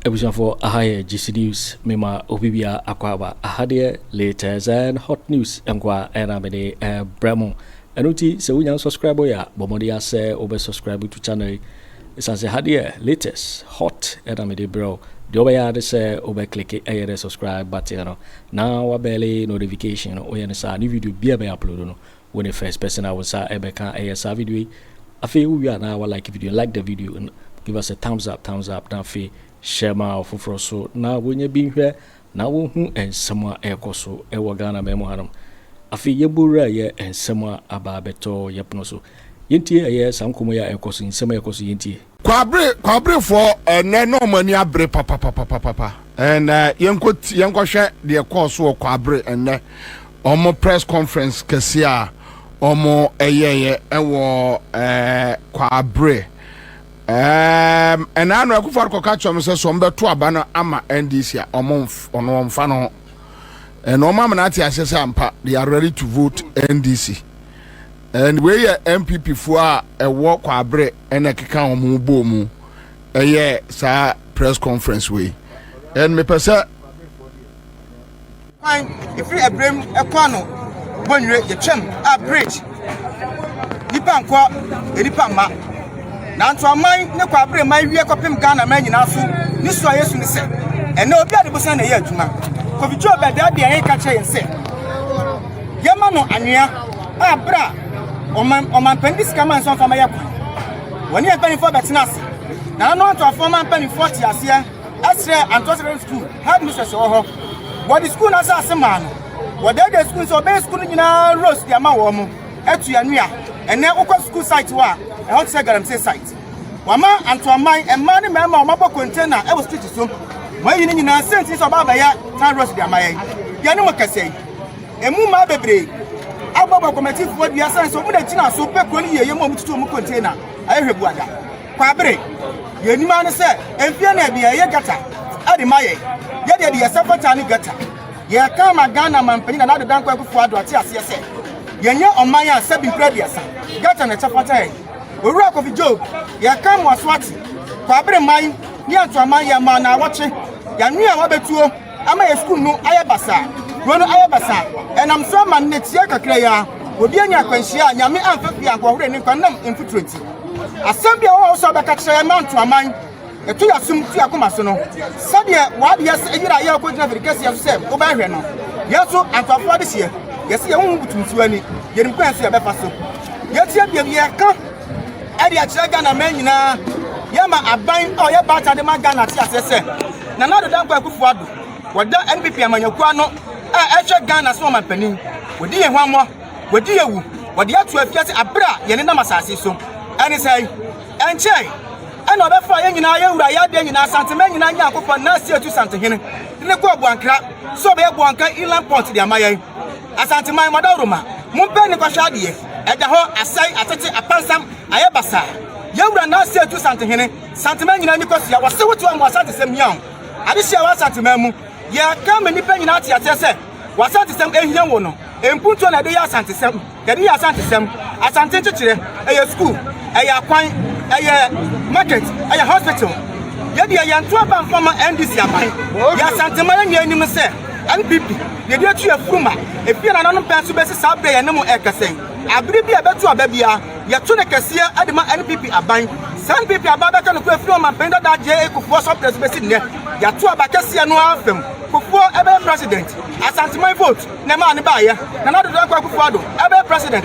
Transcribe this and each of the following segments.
abusuafoɔ aha yɛ gc news mema obi bia akɔ aba aha deɛ latest and hot news nkoa ɛna mede ɛbrɛ mo ɛno nti sɛ wonya subscribe yɛ a bɔ mmɔden asɛ wobɛ subscribe to channel yi Ɛsiane sɛ ha deɛ latest, hot na mede brɛ wo, deɛ wobɛyɛ ara ne sɛ wobɛ click ɛyɛ dɛ subscribe button no na wa bell notification no, woyɛ no saa ne video biara bɛ upload no wo ne first person a wo nsa ɛbɛka ɛyɛ saa video yi. Afei wowie a na wa like video no, like the video no, give us a thumbs up, thumbs up, na afei share ma ɔfoforɔ so na wɔnyɛ bi nhwɛ na wɔhu nsɛm a ɛrekɔ so wɔ Ghana man mu hanom. Afei yɛbɔ wura yɛ nsɛm a aba abɛtɔ yɛ pono so. Yɛntie ɛyɛ saa nkɔmmɔ yi a ɛrekɔ so, nsɛm a ɛrekɔ so yɛntie. Kwabere Kwaberefoɔ ɛnnɛ na wɔn ani abere papapapapapa and yɛnkɔ ti yɛnkɔ hwɛ deɛ ɛkɔɔ so wɔ Kwabere ɛnnɛ wɔn press conference kɛseɛ a wɔn ɛyɛeɛ ɛwɔ ɛɛ Kwabere. Erm ɛna ano akufo ado kɔka kyerɛ wɔn sɛ sɛ wɔn bɛto aba no ama NDC a wɔn nf wɔn wɔn nfa no ho. And wɔn amena ate aseɛ sɛ ampa they are ready to vote NDC. And wei yɛ NPP foɔ a ɛwɔ kwabrɛ ɛna ɛkeka wɔn ho bɔɔ mu ɛyɛ saa press conference wei. And mepɛ sɛ Kwan ɛfiri abirem ɛkɔ ano bɔnwire yɛtwam a bridge nipa nkɔ nipa mma nanto aman ne kɔ abere man wie kɔpem Ghana man nyinaa so ne su a yɛsu ne sɛ ɛnɛ obi ade bosan na ɛyɛ adwuma kɔfitwi ɔbɛdaa deɛ yɛn ka kyerɛ yɛn sɛ yɛma no anwea a berɛ a ɔmampani de sika ma nsɔmfa ma yɛ kwan wɔne yɛn mpanimfoɔ bɛtena ase na ano antoafoɔ ma mpanimfoɔ te aseɛ ɛsrɛ Antwerp Secondary School headmistress wɔ hɔ. Wɔde sukuu no asase maa no. Wɔdɛɛdɛɛ sukuu no sɛ ɔbɛyɛ sukuu no nyinaa roast de ama wɔn. Atu anwea. Ɛnnɛ wokɔ sukuu site hɔ a, ɛhɔ te sɛ galamsey site. Wɔama Antoaman mmaa ne mmarima a wɔabɔ container wɔ street so. Wɔayi ne nyinaa sɛ nti sɛ ɔba abɛyɛ tan roast de ama yɛn. Yɛne mo kɛsɛ yi. Emu mmaa bebree abɔ bɔ kɔmatifoɔ dua sane sɛ wɔn na gyina so pɛ kuro no yie yɛ mu a wɔtutu wɔn container. Ayɛ hwɛ buada. Kwabere, Yɛn anim ara ne sɛ mfe anan bi a ɛyɛ gata de ma yɛn. Yɛn deɛ de yɛsɛ fata ne gata. Yɛka ama Ghana manpanyin Nana Addo Dankwa Akufo Addo ate aseɛ sɛ yɛnyɛ ɔman a sɛbi mprɛ aduasa gata na ɛkyɛ fata yɛn. Owura Kofi Job, Yɛka ama waso ate Kwabere man ne Anto Amanyɛ ma na awɔtwe yɛanoa wabɛtuo. Ama yɛn sukuu no ayɛ basaa, kuro no ayɛ basaa. Ɛnam so ama nnɛ tiaa kakra yi ara, obi anya akwanhyia a Nyame amfa fie anhoɔhore ne nkwa nam mfuturo nti. Asɛm bi a ɛwɔ hɔ a wosɛ wobɛka kyerɛ yɛn ma nto aman, ɛto yɛn asom, tu yɛn akoma so no, sɛdeɛ w'adeyɛ sɛ yere a yɛn rekɔgyina firikɛseɛ so sɛ wobɛhwɛ no, yɛn nso antoafoɔ adehyeɛ, yɛse yɛn ho ho butu nsuo ani, yɛnim kwan a ɛso yɛbɛfa so. Yɛkyia biabiaɛ ka. ɛde akyerɛ Ghana man nyinaa yɛma aban a ɔyɛ baata de ma Ghana te aseɛ sɛ Nana Addo Dankwa Akufo Addo wɔda NPP amanyɔkuo ano a ɛhwɛ Ghana so ɔmampanin wɔdi yɛn hwammɔ wɔdi yɛ wu wɔde ato afiase aberɛ a yɛne nam asase so ɛne sɛ ɛnkyɛe ɛna ɔbɛfa yɛn nyinaa yɛn wura yɛ adeɛ nyinaa santemɛ nyinaa nyɛ akofɔ na asie tu santehene ne kɔ aboankra sɛ ɔbɛyɛ boanka inland port de ama yɛn Asanteman, Mɔdawuruma, mompɛ ne nkɔhwɛ adeɛ, ɛda hɔ, asɛe, atete, apansam, ayɛ basaa. Yɛn wura Nase Atu Santehene, Santeman nyinaa ani kosua, wɔse wote wɔn wɔ Asantesɛm hia wo. Adehyeɛ a ɛwɔ Asanteman mu, yɛka ma nnipa nyinaa te aseɛ sɛ w'Asantesɛm ɛhia wo no. Mpuntuo na yɛde yɛ Asantesɛm, yɛde yɛ Asantesɛm, Asante nkyekyerɛ, ɛyɛ sukuu, ɛyɛ akwan, ɛyɛ market, ɛyɛ hospital. Yɛdeɛ yɛnto aba mfa ma NDC aban. Yɛn Asanteman nyinaa nim sɛ. NPP, Yɛde atu afuru ma ebia nananom pɛn so besi saa bere a yɛne mo reka sɛn. Abere bi a ɛbɛto aba biara, yɛto ne kɛseɛ de ma NPP aban. Saa NPP aban bɛka nokorɛ firi Ɔmanpanin dada J. A. Kufuor so berɛ so besi nnɛ. Yɛato aba kɛseɛ no ara fam. Kufuor ɛbɛyɛ President. Asanteman vote na ɛmaa no baeɛ. Nana Dodoɔ Nkoa Kufuor Addo ɛbɛyɛ President.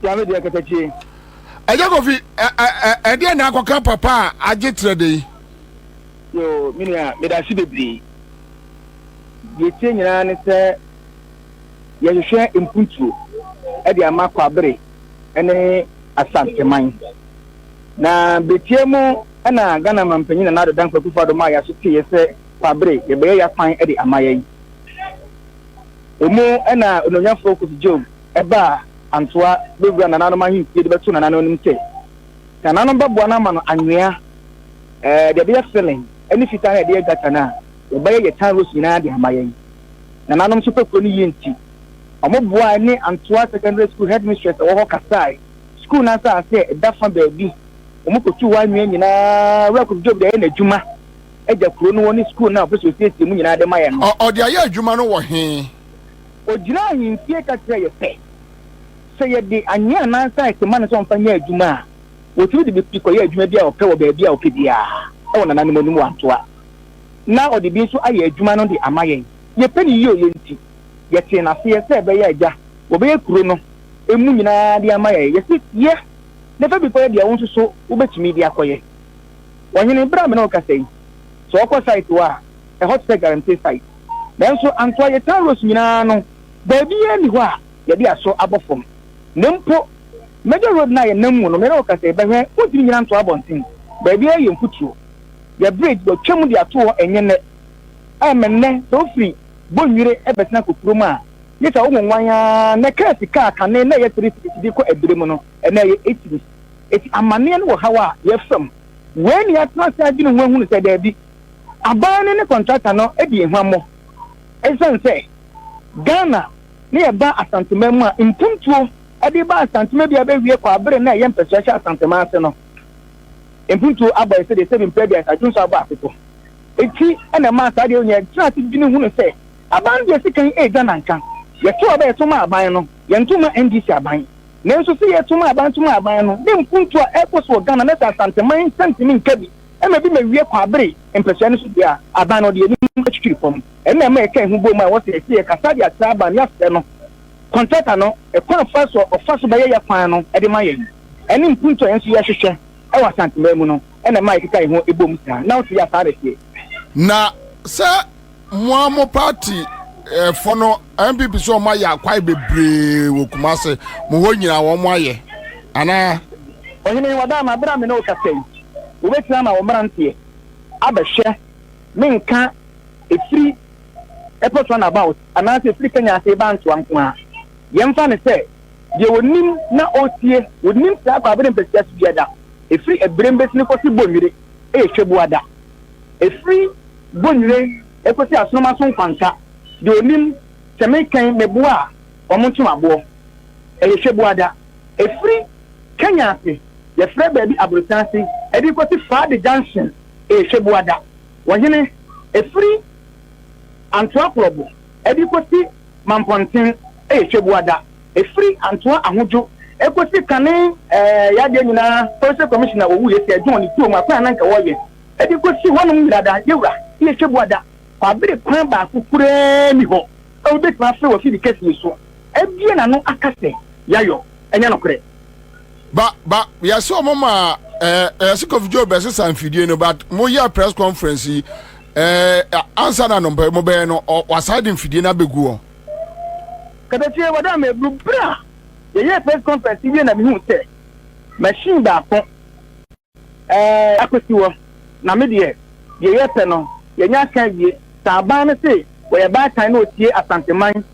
Tia me deɛ katakyie. Ɛyɛ kofi ɛ ɛ ɛ ɛdeɛ na akɔka papa a agye trɛ de yi. Yoo me nua meda ase bebree. Deɛ etie nyinaa ne sɛ yɛhwehwɛ mpuntuo ɛde ama Kwabere ɛne Asanteman. Na beretia mu ɛna Ghana Mampanyin Nana Addo Dankwa Akufo Addo maa yɛaso teeɛ sɛ Kwabere yɛbɛyɛ yakwan ɛde ama yɛn. Emu ɛna Onuonyanfoɔ Kofi Job. Ɛba a, Antoa bɛwura nananom ahemfie de bɛto nananom anim sɛ nananom bɛboa no ama no anwea, ɛɛ, deɛ ɛbɛyɛ filling, ne fitaa a yɛde yɛ gata no a wɔbɛyɛ yɛ tan rose nyinaa de ama yɛn. Nananom nso pɛ kuro no yie nti, wɔboae ne Antoa Secondary School headmistress a ɔwɔ hɔ kasae. Sukuu no asase a ɛda fa baabi wɔkɔtuu hɔ anwea nyinaa, Wura Kofi Job de ayɛ n'adwuma agya kuro no hɔ ne sukuu no a ɔpɛ sɛ ɔsiesie mu nyinaa de ma yɛn no. Ɔde ayɛ adwuma no wɔ he? Ɔgyinaa ahemfie ka kyerɛɛ yɛ sɛ, sɛ yɛde anwea anaa nsa rete ma no sɛ ɔmfa nyɛ adwuma a, ɔtumi de bi kɔyɛ adwuma bi a ɔpɛ wɔ baabi a ɔpɛ biara wɔ nananom anim wantoa, na ɔde bi nso ayɛ adwuma no de ama yɛn. Yɛpɛ no yie ɔyɛ nti, yɛtee no aseɛ sɛ ɛbɛyɛ a agya wɔbɛyɛ kuro no ɛmu nyinaa de ama yɛn. Yɛse, Yɛ na fa bi kɔyɛ deɛ wo nso so wobɛtumi de akɔyɛ. Ɔhene, berɛ a me ne wo kasa yi, sɛ ɔkɔ site hɔ a, a ɛhɔ te sɛ galamsey site. Nanso Antoa Yetan Rose nyinaa no, baabiara nni hɔ a yɛde aso abɔ fam. Na mpo Major Road no a yɛnam mu no, me ne wo ka sɛ yɛbɛhwɛ a, wontumi nnyina ntoa abɔnten. Baabiara yɛ mfuturo. Yɛn bridge, wɔatwam de ato hɔ, ɛnyɛ nnɛ. Ɛremmɛ nnɛ sɛ wofiri Bonnwire bɛsen akɔ kurom a, gye sɛ wonwonwan ara. Nnɛ kaa sika a kane na ɛyɛ three cedis de kɔ Abire mu no, ɛnnɛ ɛyɛ eight cedis. Enti amanneɛ no wɔ haw a yɛfa mu. Wei na yɛatena ase adwene ho ahunu sɛ daabi, aban no ne kɔntrakta no dii huammɔ esiane sɛ Ghana na yɛba Asanteman mu a mpuntuo de ba Asanteman bi a ɛbɛwie kɔ abere na ɛyɛ mpasua hyɛ Asanteman ase no. Mpuntuo abɔ ɛsɛ deɛ sɛbi mpɛ aduasa adwo nso abɔ aseto. Eti na ɛmaa saa deɛ ɔnyɛ ɛtena ase dwene hunu sɛ aban deɛ sika yi ɛredwa nanka yɛto aba yɛto ma aban no yɛnto ma NDC aban nanso sɛ yɛto ma aban to ma aban no ne mpuntuo a ɛrekɔ so wɔ Ghana na sɛ Asanteman nsɛntemi nka bi Ɛna bi ma wie kwabere mpɛsua no so dua a, aban no de anim twitwiri fam. Ɛna ɛma ɛka ɛho bom a ɛwɔ sɛ yɛte yɛ kasa de atra aban ne afrɛ no kɔntrata no kwan a ɛfa so a ɔfa so bɛyɛ yɛ kwan no de ma yɛn. Ɛne mpuntu a yɛn nso yɛhwehwɛ wɔ Asanteman mu no na ɛma ɛkeka ɛho bom saa. Ná wote yɛ saa na ɛteɛ? Na sɛ Mo ara mo party fo no NPP sɛ wɔn ayɛ akwae bebree wɔ Kumase mo hɔ nyinaa wɔn ayɛ anaa. Ɔhene Wadama, bere a me ne wo kasa yi, wobɛtumi ama wo mmeranteɛ abɛhwɛ me nka ɛfiri airport run about anaasɛ ɛfiri Kenya ase reba Ansoa nko ara. Yɛmfa no sɛ deɛ ɔnim na ɔretie, ɔnim saa kwaabere mpasua so biada, ɛfiri Abirem bɛsi no kɔsi Bonwire, ɛyɛ Hwɛbuada. Ɛfiri bonwire kɔsi asoroma so nkwanka, deɛ ɔnim, sɛ mekɛn me boa a, wɔn nto aboɔ. Ɛyɛ Hwɛbuada. Ɛfiri Kenya ase, yɛfrɛ baabi Aborosan ase, ɛde kɔsi Faade Junction, ɛyɛ Hwɛbuada. Wɔhene, ɛfiri Antoakorɔbo ɛde kɔsi Mampɔnten, ɛyɛ Hwɛbuada. Ɛfiri Antoa Ahodwo kɔsi kane yɛ adeɛ nyinaa Forestry Commissioner wɔwu yɛ sɛ John ne tuom akwan a na nka wɔyɛ de kɔsi hɔnom nyinaa da yɛwura yɛ twɛ bua da kwabere kwan baako koraa ni hɔ a obi bɛtumi afrɛ wɔ fidi kɛse yi so abie n'ano aka sɛ yayɔ ɛnyɛ nokorɛ. Ba ba yɛsɛ ɔmo ma ɛɛ yɛsɛ Kofi Joe bɛsesa mfidie no but mo yɛ press conference yi ɛɛ ansa na no mo bɛyɛ no wasan de mfidie no abɛgu hɔ. Kasa tie wɔ da mebru bere a yɛyɛɛ press conference yi wie na mihuu sɛ machine baako eh, akosi hɔ na me deɛ deɛ yɛpɛ no yɛanya aka awie. Sɛ aban no se wɔyɛ baatan na wɔtie Asanteman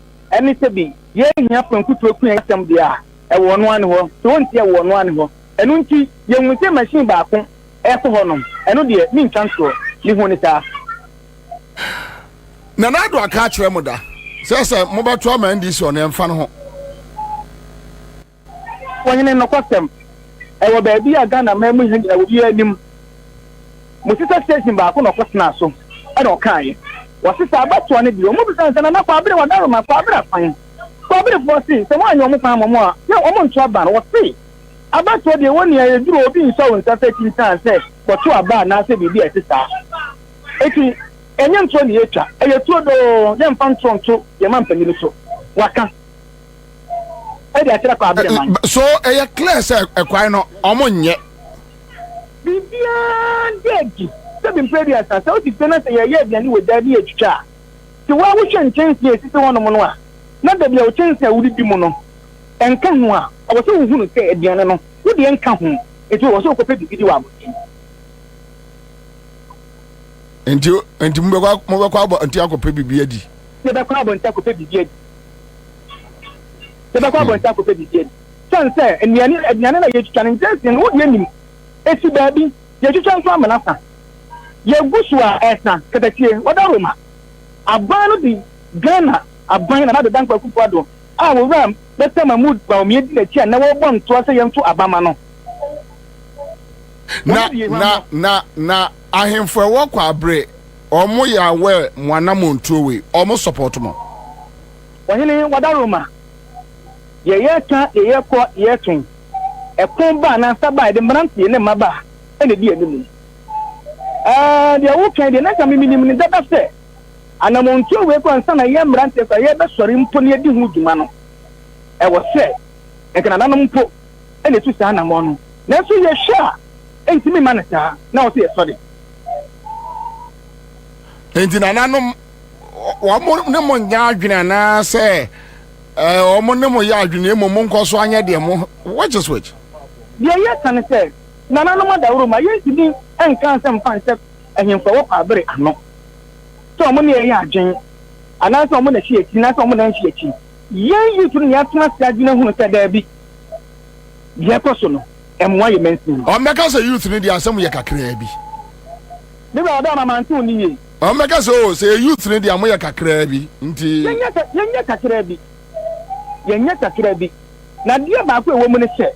ne sɛ bi yɛhia pɛnkutuo kua asɛm deɛ a, ɛwɔ ɔno ara ne hɔ. Sɛ wɔntie a, ɛwɔ ɔno ara ne hɔ. Ɛno nti yɛhunu sɛ machine baako rekɔ hɔnom, ɛno deɛ mentwa ntoɔ. Mehunu no saa. na n'ado aka akyerɛ mo da sɛ sɛ mobɛto ama ndc ɔno ɛmfa no ho. Ohene nokwasɛm, ɛwɔ baabi a Ghana man mu hɛn nyina wɔ biara nim. Mosesa station baako na ɔkɔtenaa so ɛna ɔkaaeɛ. Wɔsesa abatoɔ no deɛ, wɔbisa no sɛ Nana Kwabere Wadaroma, Kwabere afan? Kwaberefoɔ se sɛ moanyɛ wɔn kwan ama mo a yɛ wɔn nto aba no. Wɔse abatoɔ deɛ ɛwɔ nia yɛduru a obi nsɔ wo nsa sɛ kyinkyan sɛ kɔto aba anaasɛ biribi a ɛte saa. Enti, ɛnyɛ ntorɔ na yɛretwa, ɛyɛ turodoo, yɛmfa ntorɔ nto yɛn mampanin no so, waka de akyerɛ Kwaa Abiriman. So ɛyɛ clear sɛ ɛkwan no wɔnyɛ? Biribiara da adi sɛ bi mprɛ aduasa, sɛ wote fie na sɛ yɛreyɛ aduane wɔ gya ne yɛretwitwa a, sɛ woa wohwɛ nkyɛnsee a ɛsisi hɔnom no a, na dabi a wo kyɛnsee a wodidi mu no nka ho a, ɛwɔ sɛ wohunu sɛ aduane no wo deɛ nka ho, enti ɛwɔ sɛ wokɔpɛ biribi di wɔ abɔnten. nti nti mobɛkɔ mobɛkɔ abɔnten akɔpɛ biribi adi. yɛbɛkɔ abɔnten akɔpɛ biribi adi yɛbɛkɔ hmm. abɔnten akɔpɛ biribi adi sɛn sɛ nnuane aduane na yɛtwitwa no nkyɛn sɛ no wodeɛ nim ɛsi baabi yɛtwitwa nso amena sa yɛgu so a ɛsa katatie wɔda roma aban no de ghana aban na nabɛda nkwa kufoɔ ado a wɔwura bɛsɛ ma mu baomiɛ di n'akyi a na wɔbɔ ntoa sɛ yɛmfo abama no Na na na na ahemfo ɛwɔ kɔ abere ɔmo yɛ aware mo anamontuo wei ɔmo support mo. Ɔhene Wadaroma, deɛ yɛreka, deɛ yɛrekɔ, deɛ yɛreto yi, ɛko ba anaa nsa ba a, yɛde mmeranteɛ ne mmabaa na ɛdi anim. Ɛɛ, deɛ woreka yi deɛ, na nka me menim no dada sɛ anamontuo wei kɔ ansa na yɛn mmeranteɛ kɔ a yɛrebɛsɔre mpo na yɛadi ho dwuma no, ɛwɔ sɛ nka nananom mpo na etu saa anammɔn no. Nanso yɛhwɛ a, entumi mma no saa, na ɔsɛ yɛsɔ de. Enti nananom, wɔn ne mo nyɛ adwene anaasɛ wɔn ne mo yɛ adwene na mmom monkɔ so anyɛ deɛ mo which is which? Deɛ yɛka ne sɛ, nananom adaworo ma yɛntumi nka nsɛm mfa nhyɛ ahemfo a wɔpa bere ano sɛ wɔn ne yɛn yɛ adwene anaasɛ wɔn na ɛhye yɛn akyi anaasɛ wɔn na ɛnhye yɛn akyi. Yɛn youth no yɛatena ase adwene hunu sɛ daabi, deɛ ɛkɔ so no, ɛmmoa yɛn mansin. Wɔbɛka sɛ youth no deɛ asɛm yɛ kakraa bi. Me wura ɔdɔ ama mante wo nne yie. Wɔbɛka sɛ oo, sɛ youth no deɛ moyɛ kakraa bi nti. Yɛnyɛ sɛ, yɛnyɛ kakraa bi, yɛnyɛ kakraa bi. Na adeɛ baako a ɛwɔ mu ne sɛ,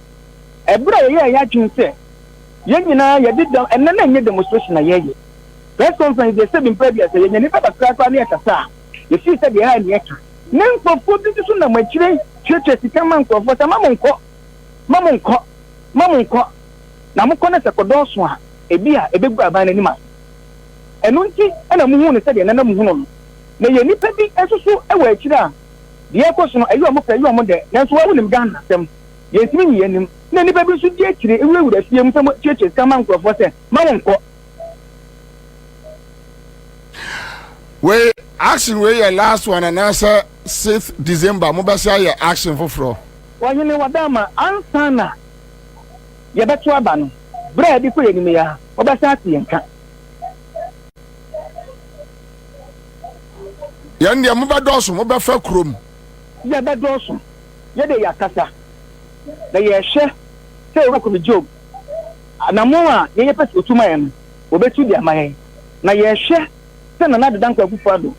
ɛberɛ a yɛyɛɛ yɛn adwene sɛ yɛn nyinaa yɛde dɛm, ɛnnɛ na ɛnyɛ demonstration na yɛreyɛ, press conference deɛ sɛbi mprɛ bi a sɛ yɛn ani bɛba koraa koraa na yɛkasa a, Mesee sɛ, Deɛ ɛha nni ɛka. Me nkurɔfoɔ bi nso nam akyire tuatua sika ma nkurɔfoɔ sɛ, Ma mo nkɔ, ma mo nkɔ, ma mo nkɔ, na mokɔ na sɛ ɛkɔdɔɔso a, ebia ɛbɛgu aban no anim ase. Ɛno nti na mohuu no sɛdeɛ ɛnnɛ na mohunu no. Na ɛyɛ nnipa bi nso so wɔ akyire a, deɛ ɛrekɔ so no, ɛyɛ wɔn pɛ, ɛyɛ wɔn dɛ. Nanso wo a wonim Ghana asɛm, yɛntumi nyi yɛn anim. Na nnipa bi nso di akyire wurawura fie mu sɛ wɔtuatua sika ma nkurɔfoɔ sɛ, Ma mo nkɔ. wei action wei yɛ last one anaasɛ sixth december mobɛsɛ ayɛ action foforɔ ɔhene wadama ansa na yɛbɛto aba no berɛ a ɛde kɔ yɛnim yi a wɔbɛsɛ ate yɛn ka yɛn deɛ mobɛdɔɔso mobɛfa kurom yɛbɛdɔɔso yɛde yɛakasa na yɛhwɛ sɛ yɛbɛkɔ me job Anammɔn a yɛyɛ pɛ sɛ otu ma yɛn no, obetu de ama yɛn. Na yɛhwɛ sɛ Nana Adedankwa Akufo-Addo,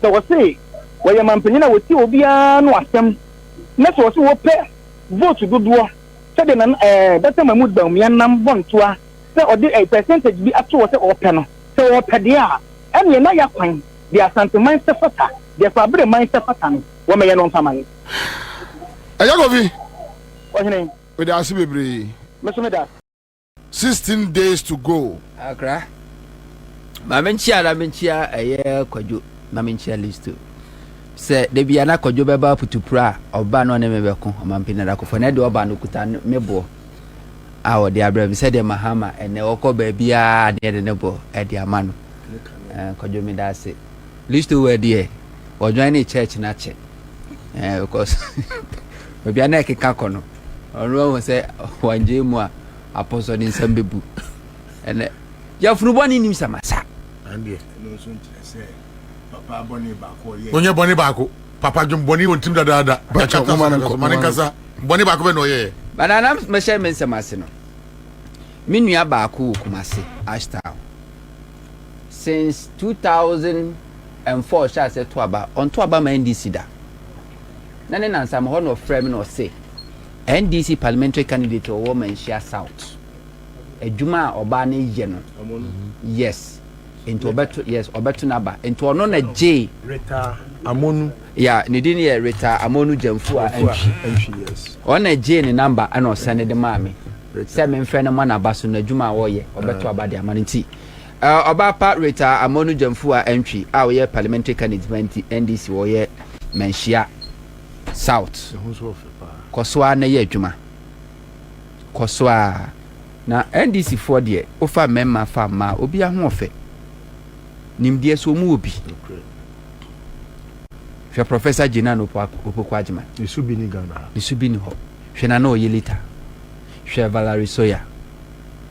sɛ wɔse wɔyɛ mampanyin a wɔtie obiara ano asɛm, na sɛ wɔse wɔpɛ vote dodoɔ sɛdeɛ Nana eh, Dɔkta Mahmood Bawumia nam bɔntoa sɛ ɔde eh, percentage bi ato hɔ sɛ ɔpɛ no. Sɛ wɔpɛ deɛ a, ɛneɛ na ya kwan deɛ Asanteman sɛ fata, deɛ Kwabereman sɛ fata no, wɔmɛyɛ no mfa ma yɛn. Ɛyɛ Kofi. Ɔhene. Meda ase bebree. Me nso meda ase. Sixteen days to go. Akra ma me nkyia na me nkyia ɛyɛ kwadwo na me nkyia listo sɛ dabi a na kwadwo bɛba putupura a ɔba na ɔne me bɛko ɔmampini adakofo na ɛde ɔba no kuta me boɔ a ɔde abrɛ me sɛdeɛ mahama ɛnɛ ɔkɔ baabiara ne ɛde ne boɔ ɛde ama no kwadwo meda ase Listo wɛ deɛ ɔdwan ne church no akyɛ eh, because baabi a na ɛkeka kɔ no ɔno ahu sɛ wangye mu a apɔsɔ ne nsɛm bɛbu ɛnɛ yɛfunu bɔ ne nim samasa onyɛ bɔne baako papa dwom bɔne wɔ ntim dadaada ma ne nkasa bɔne baako bɛ na ɔyɛɛ banana mɛhyɛ me nsɛm ase no me nua baako wɔ kumase ashtown Since two thousand and four ɔhyɛ aseɛ to aba, ɔnto aba ma NDC da. Na ne nansa ma hɔ na ɔfrɛ me na ɔse, NDC parliamentary candidate a ɔwɔ Manhyia South, adwuma a ɔbaa no yɛ no, yes, nti ɔbɛto, yes, ɔbɛto n'aba. Nti ɔno na gyee. Ritah Amonu. Yeah, ne din yɛ Ritah Amonu Gyamfua Antwi. Yes. Ɔno na gyee ne number ɛna ɔsɛn de maa me sɛ memfrɛ no ma n'aba so n'adwuma a ɔyɛ, ɔbɛto aba de ama no nti. Ɔbaa pa Rita Amonu Gyamfua Antwi a ɔyɛ Parliamentary Candidate ma nti NDC wɔ ɔyɛ Manhyia South kɔ so ara na yɛ adwuma kɔ so ara na NDC foɔ deɛ wofa mmarima fa mmaa obi ahoɔfɛ nimdeɛ so wɔn wɔ bi hwɛ Professor Gina Opoku Agyeman ne so bi ni Ghana ha ne so bi ni hɔ hwɛ na na ɔyɛ lita hwɛ Valerie Soya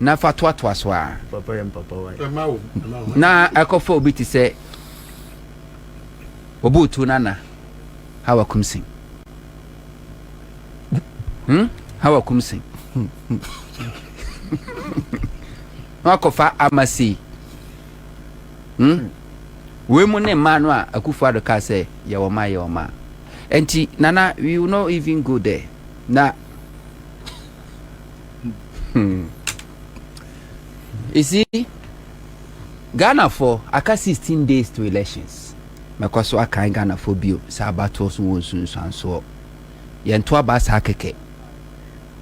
na fa toatoa so ara, na ɛkɔfa obi te sɛ Obuutu Nana Hawa Kumsin. Hmm? Hawa Kumsin. na wakɔfa Amasi. Hmm? Wei mu ne mmaa no a Akufo Addo kaa sɛ yɛwɔ ma yɛwɔ ma. Nti Nana, we will not even go there. Na Hmm. You see, Ghana for aka 16 days to elections. Mɛkɔ so akan Ghana for bio sɛ abatoɔ so wɔ nsunsuansoɔ. Yɛnto aba saa kɛkɛ.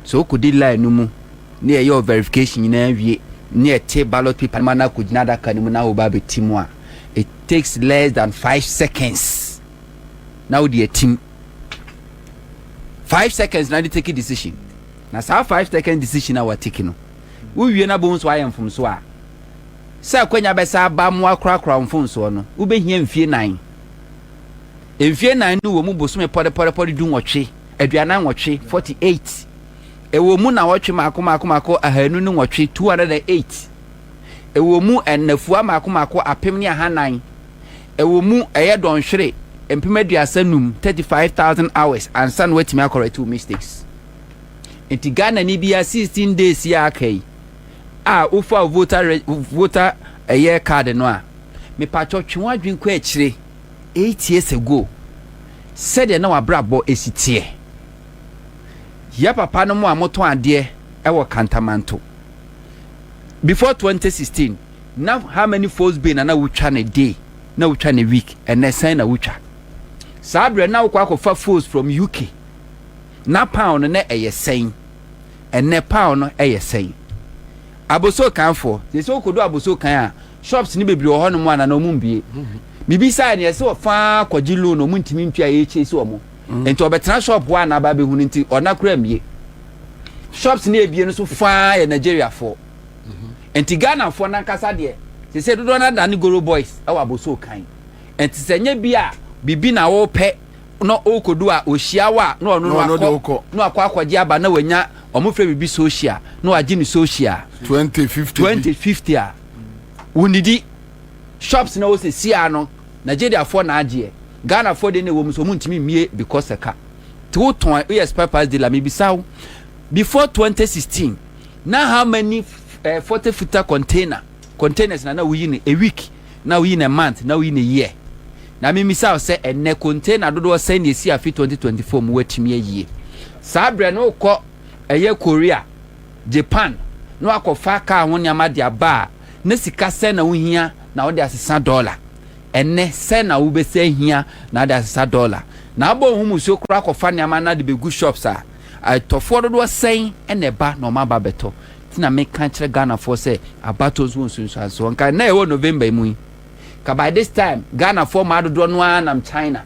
So wokɔdi line no mu ne yɛyɛ verification nyinaa wie ne yɛte ballot paper ma no akɔgyina adaka no mu na woba abɛti mu a it takes less than five seconds na wode atim. five seconds na de take decision na saa five second decision a watake no wowie na bohu so ayɛ mfomso a sɛ akwanya bɛsa aba mo akorakora mfomsoɔ no wobɛhia mfie nan mfie nan no wɔ mu bosome pɔdepɔdepɔde du nwɔtwe aduanan nwɔtwe 48 ɛwɔ mu na wɔtwe maako maako maako ahanu ne nwɔtwe 208 ɛwɔ mu ɛnafua maako maako apem ne ahanan Ɛwɔ mu ɛyɛ dɔnhwere mpem aduasa num, thirty five thousand hours, ansa na watumi akɔrɛte wo mistakes. Nti Ghanani bia sixteen days yi a aka yi a wofa wo voter re voter ɛyɛ card no a, mepatwɔ twe w'adwene kɔ akyire eight years ago sɛdeɛ na w'abrabɔ esi teɛ. Yɛ papa nom a motɔn adeɛ ɛwɔ Kantamanto before twenty sixteen. Na how many folds bay na na wotwa ne day na wotwa ne week ɛnɛ sɛn na wotwa saa berɛ na wokɔ akɔfa folds from UK na pound no na ɛyɛ sɛn ɛnɛ pound no ɛyɛ sɛn aboso kan foɔ sɛ sɛ wokɔdu aboso kan a shops no bebree wɔ hɔ nom a na na ɔmo mbie mebisaa neɛ sɛ ɔfaa kɔgye loan ɔmo ntumi ntua ɛyɛ kyɛ si ɔmo nti ɔbɛtena shop hɔ a na aba bɛhu no nti ɔna kora mbie shops no ebie no so faa yɛ Nigeria foɔ nti Ghanafoɔ no ankasa deɛ sese dodoɔ no adane Goro Boys wɔ abosoo kan nti sɛ nyɛ bi a biribi na wɔpɛ na ɔkɔdu a ɔhyia wo a na ɔno no akɔ na wakɔ akɔgye aba na wanya wɔn fɛ biribi social na wagye ne social 2050 2050 a wonidi shops na wɔsɛ siaa no Nigeriafoɔ na agyeɛ Ghanafoɔ deɛ na ɛwɔ mu so wɔn ntumi mmie because ɛka te wotɔn woyɛ spare parts dealer mebisa wo before 2016 na how many uh, forty footer container containers na na woyi no a week na woyi no a month na woyi no a year na memisa wo sɛ ɛnɛ container dodoɔ sɛn na ɛsi afe 2024 mu woatumi ayie saa berɛ no wokɔ ɛyɛ korea japan na wakɔfa kaa ho nneɛma de aba a na sika sɛn na wohia na wode asesa dɔla ɛnɛ sɛn na wobɛsɛ hia na wode asesa dɔla na abɔ ho mu so koraa kɔfa nneɛma na de bɛgu shops a Atɔfoɔ dodoɔ sɛn na ɛba na wɔn aba bɛtɔ? Nti na meka kyerɛ Ghanafoɔ sɛ abatoɔ nso wɔ nsunsuansoɔ. Nka nnɛ yɛwɔ November mu yi, nka by this time Ghanafoɔ mmaa dodoɔ no ara nam China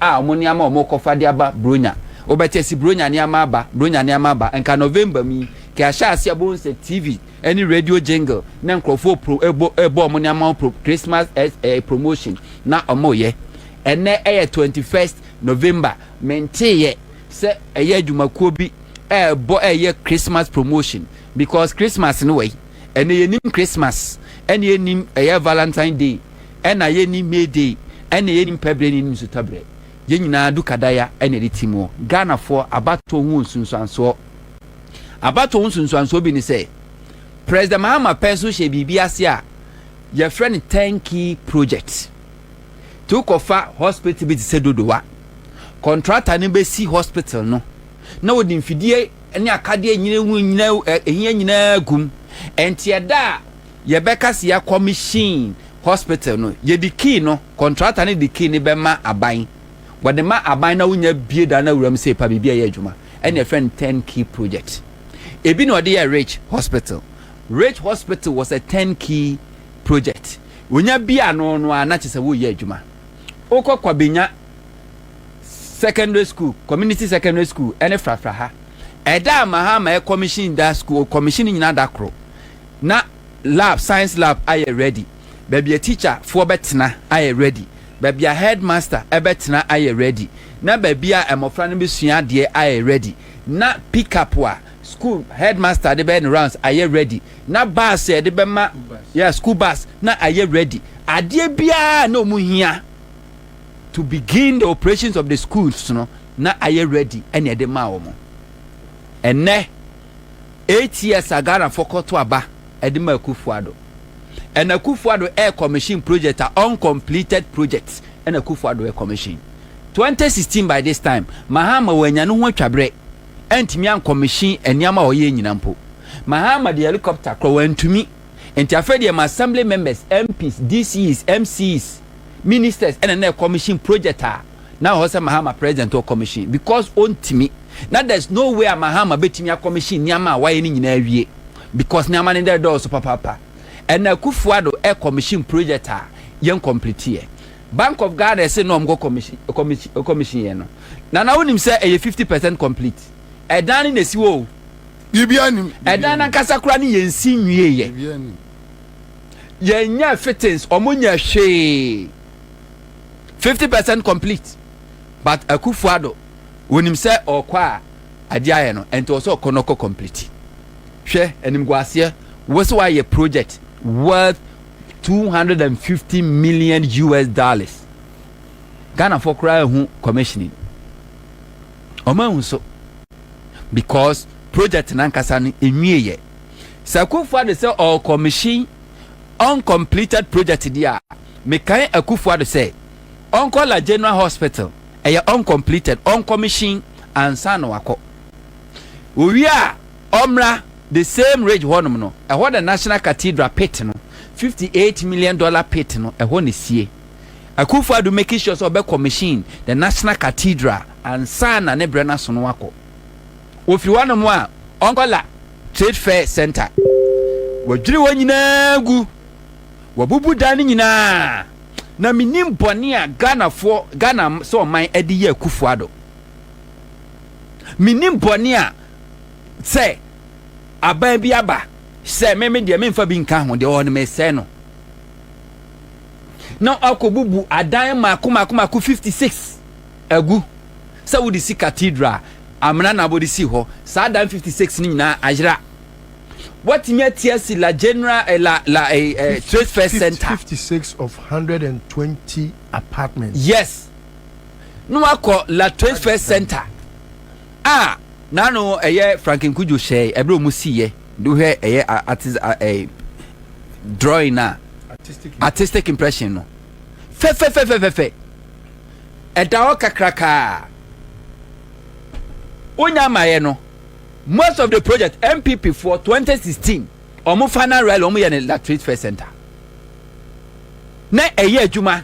a wɔn nneɛma a wɔrekɔfa de aba Buronya. Wobɛte asi Buronya nneɛma aba, Buronya nneɛma aba. Nka November mu yi, nka yɛahyɛ aseɛ a wobɛhu sɛ TV ne radio jingle na nkurɔfoɔ pro, ɛbɔ, ɛbɔ wɔn nneɛma ho pro, Christmas eh, eh, promotion na wɔreyɛ. Ɛnnɛ ɛyɛ 21st November, menteeɛ. sɛ ɛyɛ adwumakuo bi ɛɛbɔ ɛɛyɛ Christmas promotion because Christmas no wai ɛnɛ yɛnim Christmas ɛna yɛnim ɛyɛ Valentine day ɛna yɛnim May day ɛna yɛnim pɛbrɛ ne yɛnim sutabrɛ yɛn nyinaa du kadaya ɛna ɛde ti muɔ Ghanafoɔ abatoɔ ho nsunsuansoɔ abatoɔ ho nsunsuansoɔ bi ne sɛ President Mahama pɛn so hyɛ biribi ase a yɛfrɛ no turnkey project to kɔfa hospital bi te sɛ Dodowa Kɔntrata no bɛsi hospital no na wɔde mfidie ne akadeɛ a ɛnyina ɛho nyina ɛhia nyinaa gum. Ɛnti ɛda a yɛbɛka sɛ yɛakɔ machine hospital no, yɛde key no, kɔntrata no de key no bɛma aban. Wɔde ma aban na wonya bie dan no awura mu sɛ epa biribi a ɛyɛ adwuma. Ɛne ɛfrɛ no ten key project. Ebi na ɔde yɛ Ridge Hospital. Ridge Hospital was a ten key project. Wonya bie ano no ara na kyɛ sɛ woreyɛ adwuma. Wokɔ Kwabenya Secondary School, Community Secondary School ne Frafra ha. Ɛda a Mahama ɛkɔmihyin da school, ɔkɔmihyin ne nyinaa da koro. Na lab, science lab ayɛ ready, baabi a teacher foɔ bɛtena ayɛ ready, baabi a headmaster bɛtena ayɛ ready, na baabi a mmɔfra no bɛsua adeɛ ayɛ ready, na pick up a. School headmaster de bɛyɛ no rounds ayɛ ready na bus a yɛde bɛma yeah school bus na ayɛ ready adeɛ biara na ɔmu hia to begin the operations of the schools no na ayɛ ready ɛna ɛde maa wɔn ɛnɛ eight years a Ghana fo kɔto aba ɛde ma Akufo-Addo ɛna Akufo-Addo air commission project a uncompleted project ɛna Akufo-Addo air commission 2016 by this time Mahama wanya ne ho atwabrɛ antumi ankɔmehyen nneɛma a ɔyɛɛ nyina mpo. Mahama de helicopter korɔ wantumi. Nti afei deɛ ma assembly members, MPs, DCEs, MCs, ministers ɛna na ɛkɔmehyen project a na ɛwɔ hɔ sɛ Mahama president ɔkɔmehyen because ɔntumi. Na there's no way a Mahama bɛtumi akɔmehyen nneɛma a wayɛ no nyina awie because nneɛma no dɛdɔɔso papaapa. Ɛna Akufo-Addo ɛkɔmehyen project a yɛnkomplitiiɛ. Bank of Ghana se na wɔkɔ commission commission commission yɛ no Nana wonim sɛ ɛyɛ fifty percent complete ɛdan no na esi hɔ o. Biribiara nim. Ɛdan no ankasa koraa no yɛn si nwie yɛ. Biribiara nim. Yɛn nyɛ fittings wɔn nyɛ hwee fifty percent complete but Akufo Addo wonim sɛ ɔkɔ a ade ayɛ no ɛnti ɔsɛ ɔkɔ na ɔkɔ complete hwɛ animguaseɛ wose wayɛ project worth two hundred and fifty million us dollars ghanafoɔ koraa ahu commissioning ɔmo ahu so because project nankasa no enwieɛ sɛ akufo ado sɛ ɔɔ commission uncompleted project di a mekae akufo ado sɛ ɔnkɔ la general hospital ɛyɛ uncompleted ɔncommission ansa na wakɔ owie a Ɔmmra, the same ridge hɔnom no, ɛhɔ na National Cathedral pit no, fifty eight million dollar pit no, ɛhɔ na esie. Akufo-Addo making sure sɛ ɔbɛ commission the National Cathedral ansa na ne brɛ no aso no akɔ. Ofiri hɔnom a, ɔnkɔ la Trade Fair Centre. Wɔadwiri hɔ nyinaa agu, wɔabubu dan no nyinaa, na mennim bɔne a Ghanafoɔ, Ghana sɛ ɔman de yɛ Akufo-Addo. Menim bɔne a sɛ aban bi aba sɛ me me deɛ memfa bi nka ho deɛ ɔwɔ no mesɛe no. Na ɔkɔbubu adan mmaako mmaako mmaako 56 agu sɛ wode si cathedral amena na abɔde si hɔ saa adan 56 no nyinaa ayera. Watumi ati asi la general eh, la la eh, eh, trade fair center. 56 of 120 apartments. Yes. na wakɔ La Trade Fair Centre a n'ano ɛyɛ Franklin Cudjoe hyɛe ɛberɛ a wɔsiiɛ de wohwɛ ɛyɛ artis ɛɛ drawing a artistic impression no fɛfɛfɛfɛfɛfɛ ɛda hɔ kakrakaa wonya amaeɛ no most of the project MPP foɔ 2016 wɔn final rally wɔn yɛ no La Trade Fair Centre na ɛyɛ adwuma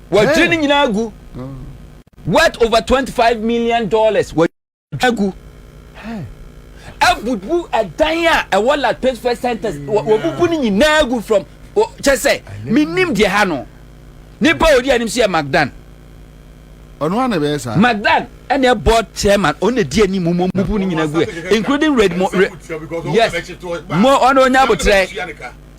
Watwiri ne nyinaa agu. Worth over twenty five million dollars. Watwiri agu. Abubu ɛdan a ɛwɔ La Pittsburgh Centers. Wabubu ne nyinaa agu from kyɛ sɛ menim deɛ ha no. Nipa a ɔdi anim so yɛ Magdan. Ɔno ana bɛyɛ saa? Magdan ɛna ɛbɔ chairman ɔno na di anim mu bubu ne nyinaa gu including red mo re yes mo ɔno onya abotrɛ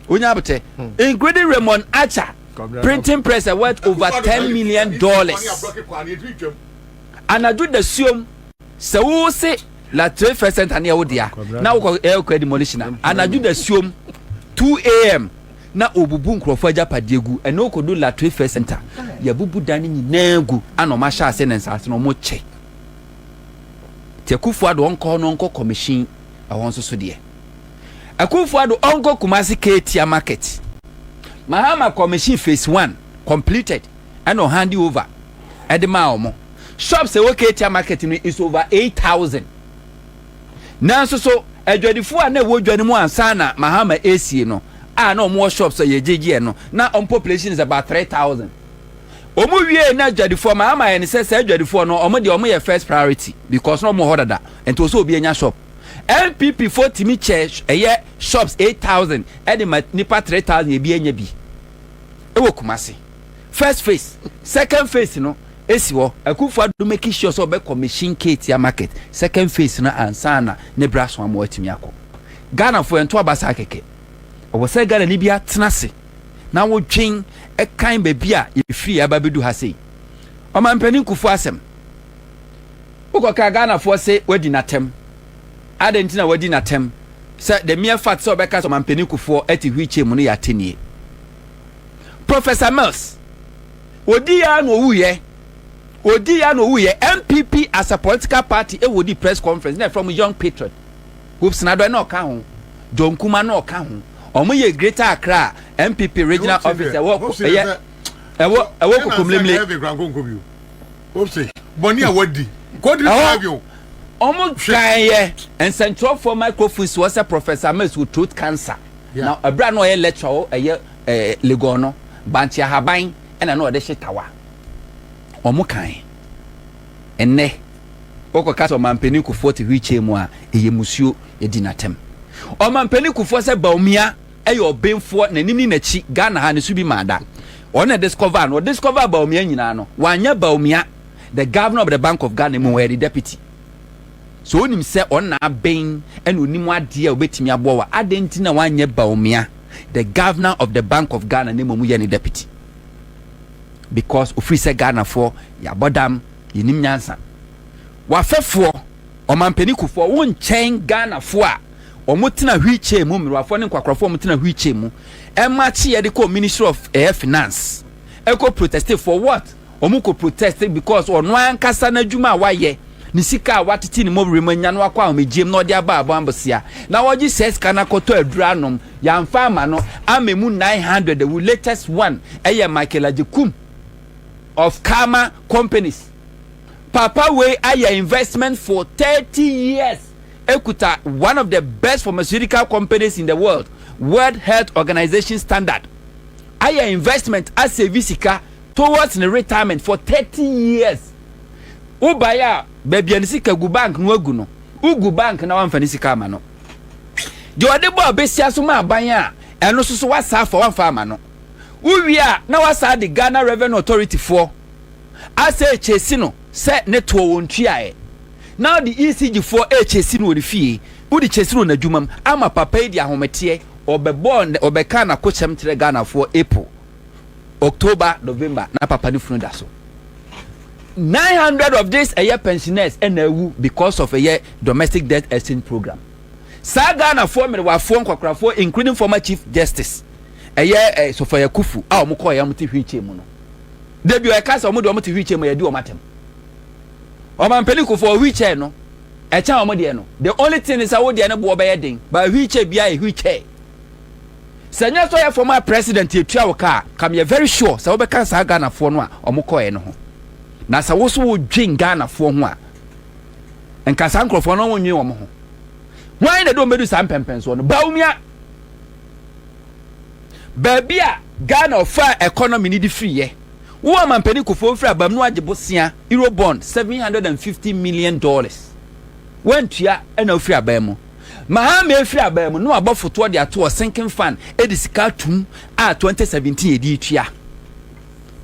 onya abotrɛ including Raymond Acha. Printing press a worth over ten million dollars. Anadwo dasuom. Sɛ wo se la trade fair center ne yɛ wo dea na wo kɔ ɛyɛ kɔ demolition a anadwo dasuom two am na obubu nkurɔfoɔ agyapadeɛ gu ɛne wo kɔdu la trade fair center yɛbubu dan no nyinaa gu ana ɔmo ahyɛ ase ne nsaase no ɔmo kyɛ te akufo ado ɔnkɔ hɔ no ɔnkɔ commission ɛhɔ nso so deɛ. Akuffo Addo ɔnkɔ Kumasi Katia market. Mahama commission phase one completed ɛna ɔhande over ɛde maa wɔn. Shops ɛwɔ Katia market no is over eight thousand. Nanso so adwadifo a na ɛwɔ dwa no mu ansa na Mahama esie no a na wɔn wɔ shops a yɛgyegyeɛ no na wɔn population is about three thousand. Wɔn wie na adwadifoɔ Mahama ayɛ ne sɛ saa adwadifoɔ no wɔn deɛ wɔn yɛ first priority because na wɔn wɔ hɔ dada nti wɔn sɛ obi anya shop. NPP foɔ tumi kyɛ ɛyɛ shops eight thousand ɛde ma nipa three thousand ebi anya bi ɛwɔ Kumasi first phase second phase no esi hɔ Akuffo Addo making sure sɛ ɔbɛkɔ machine Ketia market second phase no ansa na ne bra so ama watumi akɔ Ghana foɔ ɛnto aba saa kɛkɛ ɛwɔ sɛ Ghana ni bi atena se na wodwen ɛkan baabi a yɛfiri aba bɛdu ha sei Ɔmampanin Kuffo asɛm Wokɔkaa Ghanafoɔ se wadi no atɛm. Adɛn nti na wadi no atɛm? Sɛ the mere fact sɛ ɔbɛka sɛ Ɔmampanin Kufuor te wheelchair mu no yɛ atɛnnie. Professor Mills, ɔdiiɛ ara na ɔwuiɛ, ɔdiiɛ ara na ɔwuiɛ. NPP as a political party ɛwɔ di press conference na ɛfrɛ mo Young Patriot, Hoopes Nadɔe na ɔka ho, John Kumah na ɔka ho. Wɔn yɛ Greater Accra NPP regional office ɛwɔ ɛyɛ ɛwɔ ɛwɔ Kokomlemle. Ose bɔne a wadi nkɔ di saa bio. Ɔmo twan yɛ nsɛnkyerɛfoɔ microphones wɔ sɛ Professor Ames wɔ throat cancer. Na ɛberɛ a na ɔyɛ lecture wɔ ɛyɛ Legon no, bankye ahaban ɛna na ɔde hye tawa. Ɔmo kan. Ɛnɛ, wokɔ ka sɛ ɔmampanin Kufuor te wheelchair mu a, ɛyɛ musuo, yɛdi no atɛm. Ɔmampanin Kufuor sɛ Bawumia. yɛ ɔbenfoɔ nanim ne nakyi Ghana ha no so bi maa da ɔno na discover no discover Bawumia nyinaa no wanyɛ Bawumia the governor of the bank of Ghana mu ɔyɛ de deputy so onim sɛ ɔno na aben ɛna onim adeɛ a obetumi aboa wa adeɛ nti na wanyɛ Bawumia the governor of the bank of Ghana ne mu mu yɛ ne deputy because ofiri sɛ Ghana foɔ yɛabɔ dam yɛnim nyansa wafɛfoɔ ɔmampani kufoɔ wo nkyɛn Ghana foɔ a wɔtena wheel chair mu, mmerewafoɔ ne nkwakorafoɔ a wɔtena wheel chair mu, ɛmakye yɛde kɔ ministry of eh, finance, ɛkɔ proteste for what? Wɔn kɔ proteste because ɔno ankasa n'adwuma a wayɛ, ne sika a watete ne mɔwere mu anya no akɔ ahomegyeɛ mu na ɔde aba abɔ ambosea, na ɔgye saa sika no akɔtɔ aduro anom, yɛamfa ama no, ama emu 900 awu, latest one ɛyɛ Michael Agyekum of Karma Companies. Papa wei ayɛ investment for 30 years. ekuta one of the best pharmaceutical companies in the world, World Health Organization standard. Ayɛ investment a save sika towards ne retirement for thirty years. Wo bae a baabi a ne sika gu bank no agu no, wo gu bank na wamfa ne sika ama no. Deɛ ɔde bɔ abesia so ma aban a ɛno so so wasa afa wamfa ama no. Wo wie a na wasa de Ghana Revenue Authority foɔ asɛ kyesi no. sɛ ne toɔ wɔn tua ɛ. Na ɔde ECG foɔ rekyɛsi no wɔ ne fie, wode kyɛsi no wɔ n'adwuma mu ama papa yi de ahometeɛ, ɔbɛbɔɔ nnɛ, ɔbɛkaa n'akokyɛm kyerɛɛ Ghanafoɔ April, October, November na papa no funu da so. 900 of this ɛyɛ pensioners ɛna awu because of ɛyɛ domestic death exchange program. Saa Ghanafoɔ mmerewafoɔ nkwakorafoɔ including former Chief Justice ɛyɛ eh, Sofoya Kufu a wɔkɔɔ yɛ wɔte wheelchair mu no, Da bi ɔyɛka sɛ wɔn de wɔn te wheelchair mu yɛdi wɔn atɛm. Ɔmampanin Kufuor wheelchair no ɛkyɛn wɔn deɛ no. The only thing ne sɛ wo deɛ no boɔ bɛyɛ den but wheelchair biara yɛ wheelchair. Sɛ nyɛ sɛ ɔyɛ former president etua wo ka a, ka meyɛ very sure sɛ wobɛka saa Ghanafoɔ no a wɔn kɔɔɛ no ho. Na sɛ wo so wo dwen Ghanafoɔ ho a, nka saa nkorɔfoɔ no wo nnwen wɔn ho. Hwan na ɛde wɔn bɛdu saa mpɛmpɛnsoɔ no? Bawumia! Baabi a Ghana ɔfaa economy no de firi yɛ. Wo amampanin Kufuor mfiri abam no agye bosea Euro bond seven hundred and fifty million dollars. Wantua ɛna ofiri aban mu. Mahama efiri aban mu no wabɔ fotoɔ de ato wɔ sinking fund edi sika atum a twenty seventeen yɛde etua.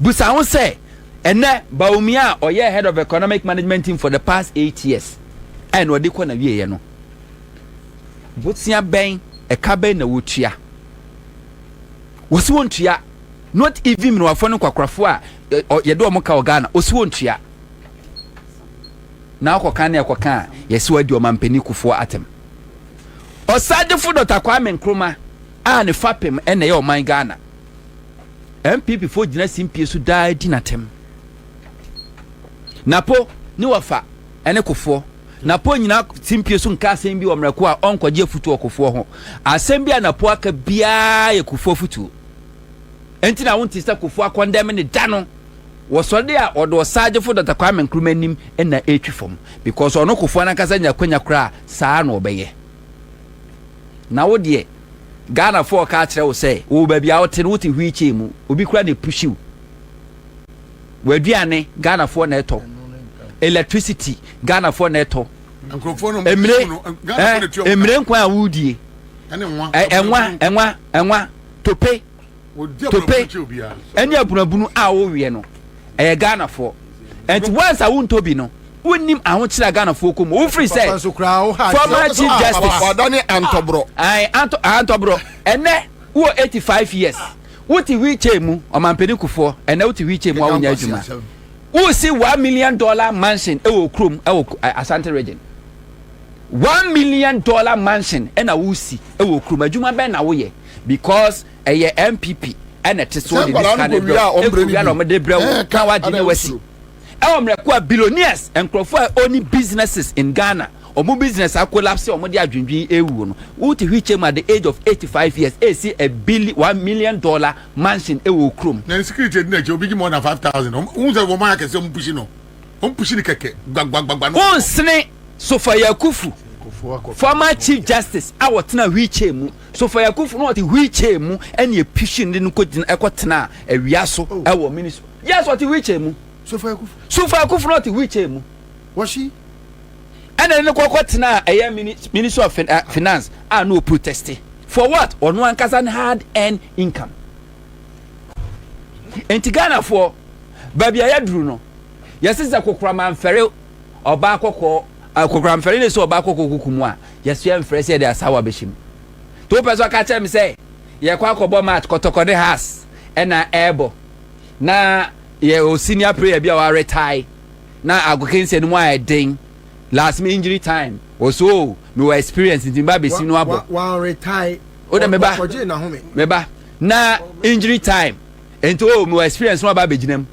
Busa ho sɛ ɛnɛ Bawumia a ɔyɛ head of economic management team for the past eight years ɛna ɔde kɔ na wieɛ no Bosea bɛn ɛka bɛn na wotua? Wɔsi wɔn tua not even mmerewafoɔ ne nkwakorafo a yɛde wɔn ka wɔ Ghana wɔsi wɔn tua na akɔka ne ɛkɔka a yɛsi wɔn adi wɔn ampani kufoɔ atem ɔsadefo Dɔkta Kwame Nkrumah a ne fapem ɛna ɛyɛ ɔman Ghana NPP foɔ gyina simpie so daa di n'atem napo ne wɔfa ɛne kufoɔ Napo nnyina simpie so nka asɛm bi wɔ mmerɛ ko a ɔnkɔgye afutuo wɔ kofoɔ ho. Asɛm bi a Napo aka biara yɛ kofoɔ afutuo. Enti na wonte sɛ kofoɔ akɔndɛme no da no wɔ sɔre a ɔde Ɔsaagyefo Dɔkta Kwame Nkrumah anim na ɛretwi fam because ɔno kofoɔ no ankasa nya akwanya koraa a saa na ɔbɛyɛ. Na wo deɛ Ghanafoɔ reka akyerɛ wo sɛ wowɔ baabi a wote no wote wheelchair mu, obi koraa na ɛpushi wo. W'aduane, Ghanafoɔ na ɛtɔ. Electricity, Ghanafoɔ na ɛtɔ. Emire, eh, emire nkwan a wodie. Ɛnwa, ɛnwa, ɛnwa, tope, tope, ɛne abunabunu a woweɛ no, ɛyɛ Ghanafoɔ. Ɛnti once a wontɔ bi no, wonnim ahokyerɛ a Ghanafoɔ kɔ mu. Wofiri sɛ, former chief justice. Wadane antɔborɔ. Ae, antɔ, antɔborɔ. Ɛnɛ, wowɔ 85 years. Wote wheelchair mu, ɔmampanin kufoɔ, ɛnɛ wote wheelchair mu a wonya adwuma. Wosi one million dollar mansion ɛwɔ okurom ɛwɔ Asante region. One million dollar mansion ɛna wosi ɛwɔ okurom. Adwuma bɛn na woyɛ because ɛyɛ NPP ɛna ɛte so de disika ne brɛ wo. Ekowia na wɔn de brɛ wo na wagye ne wasi. Ɛwɔ mmerɛko a billionaires nkurɔfoɔ a ɔni businesses in Ghana. Ɔmo business a collapse a ɔmo de adwendwen awuo no wo te hwee kyɛm at the age of eighty five years ɛɛsi a billi one million dollar mansion ɛwɔ wo kurom. Na insecurity adi n'akyi obi gye more than five thousand ɔmo wohu sɛ wɔn ayɛ akɛse ɔmo pushi no ɔmo pushi no kɛkɛ gbagbagba no. Wonsene Sofa Yakufu former chief justice a ɔtena wheel chair mu Sofa Yakufu na ɔte wheel chair mu ɛna ɛpushi no de no kɔ gyina ɛkɔ tenaa awia so ɛwɔ minis yes ɔte wheel chair mu Sofa Yakufu Sofa Yakufu na ɔte wheel chair mu. Wɔhye. ɛna ne no kɔkɔ tena ɛyɛ ministry of eh, finance a no protest for what ɔno ankasa ne hard earned income nti ghanafoɔ baabi a yɛduru no yɛsi sɛ kokorama mfɛre ɔbaa kɔkɔɔ kokorama mfɛre ne sɛ ɔbaa kɔkɔɔ kuku mu a yɛsoɛ mfɛre sɛ yɛde asawa bɛhyɛ mu to pɛ so ɔka kyerɛ me sɛ yɛkɔ akɔbɔ match kɔtɔkɔ ne has ɛna ɛɛbɔ na yɛ o senior player bi a wɔaretae na agokansi no mu ayɛ den last me injury time wɔ so o mewɔ experience nti meba bɛsi no abɔ wode meba meba na injury time nti o mewɔ experience no aba bɛgyina mu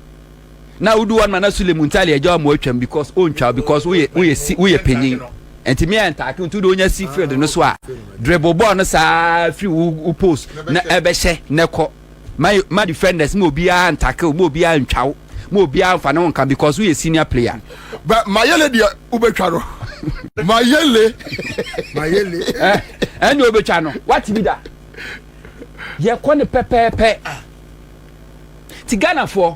na wodu hɔ noma na sule mu ntale agya ɔmo atwam because ontwa because woyɛ woyɛ si woyɛ panyin nti mi a ntaake nti wode wonya si field no so a dribble bɔɔl no saa firi wo post na ɛbɛhyɛ na ɛkɔ ma ma defenders ma obiara ntackle ma obiara ntwa wo ma obiara nfa ne ho nka because woyɛ senior player. bɛ mayele deɛ wobɛtwa no mayele mayele ɛne eh, wobɛtwa no wate bi da yɛkɔ ne pɛpɛɛpɛ ti ghanafoɔ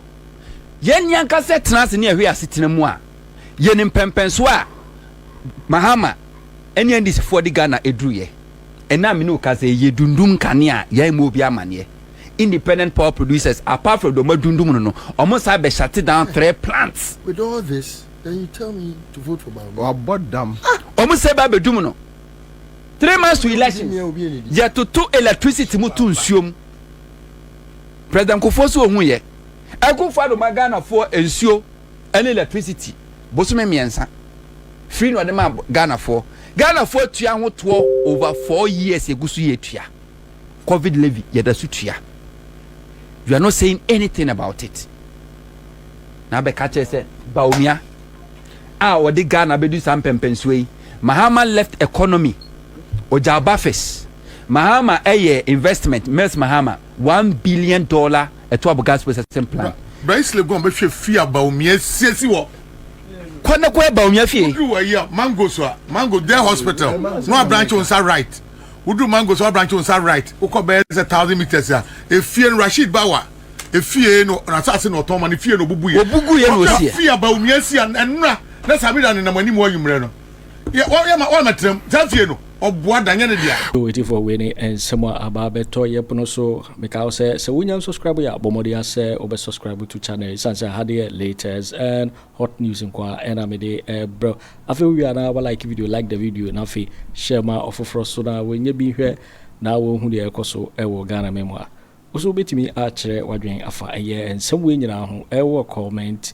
yɛnni ankasa tena ase ne ɛhwɛ asetena mu a yɛne mpɛmpɛnsoɔ a mahama ɛne ndisifoɔ de ghana ɛduruyɛ Ɛnnɛ a me ne wo kasa yi, yɛdundum nkanea a yɛammɔ obi amanneɛ. Independent power producers, apart from deɛ wɔadundum no no, wɔn san bɛ shut down three plants. With all this, then you tell me to vote for Bawumia. Wabɔ dam. Ah! Wɔn san bɛ abɛdum no. Three months to elections, yɛtoto electricity mu to nsuo mu. President Kufuor so ɔhuiɛ. Akufo-Addo ma Ghanafoɔ nsuo. ɛne electricity bosome mmiɛnsa free na ɔde maa Ghana foɔ Ghana foɔ tua ho toɔ over four years yɛgu so yɛ tua covid levy yɛda so tua you are not saying anything about it na abɛka kyerɛ sɛ Bawumia a ɔde Ghana bɛdu saa mpɛmpɛnsoɔ yi Mahama left economy ɔgya ɔba fis Mahama ɛyɛ investment Mills Mahama one billion dollar ɛtoa bo God's Processing Plan. Bra Islegon bɛhwɛ fie a Bawumia asiesie wɔ. Kɔ na kɔhwɛ Bawumia fie. Woduru wɔ ayi a Mango so a Mango Dare Hospital na wabranche wo nsa right. Woduru Mango so wabranche wo nsa right wokɔ bɛyɛ sɛ thousand meters a efie no Rasheed Bawa efie no n'asase na ɔtɔn ma no fie na obubu yɛ. Obugu yɛ na osi yɛ. Fie a Bawumia si a ɛnora na Samira nenam anim wɔ anwummerɛ no. yɛ wɔn yɛ ma wɔn mɛtena mu saa fie no ɔboa da nyɛ ne dea. Yoo etifoɔ wei ne nsɛm a aba abɛtɔ yɛ pono so meka wo sɛ sɛ wonya nsɔscribe yɛ a bɔ mmɔden a sɛ wobɛ sɔscribe to channel yi ɛsiane sɛ ha de yɛ latest and hot news nko a ɛna mede ɛbrɛ wo afei wowie a na wa like video like the video na afei hyɛ ma ɔfoforɔ so na wɔnyɛ bi nhwɛ na wɔhu deɛ ɛkɔ so ɛwɔ Ghana mɛmu a wo so wobɛtumi akyerɛ wadwen afa ɛyɛ nsɛm wei nyinaa ho ɛwɔ comment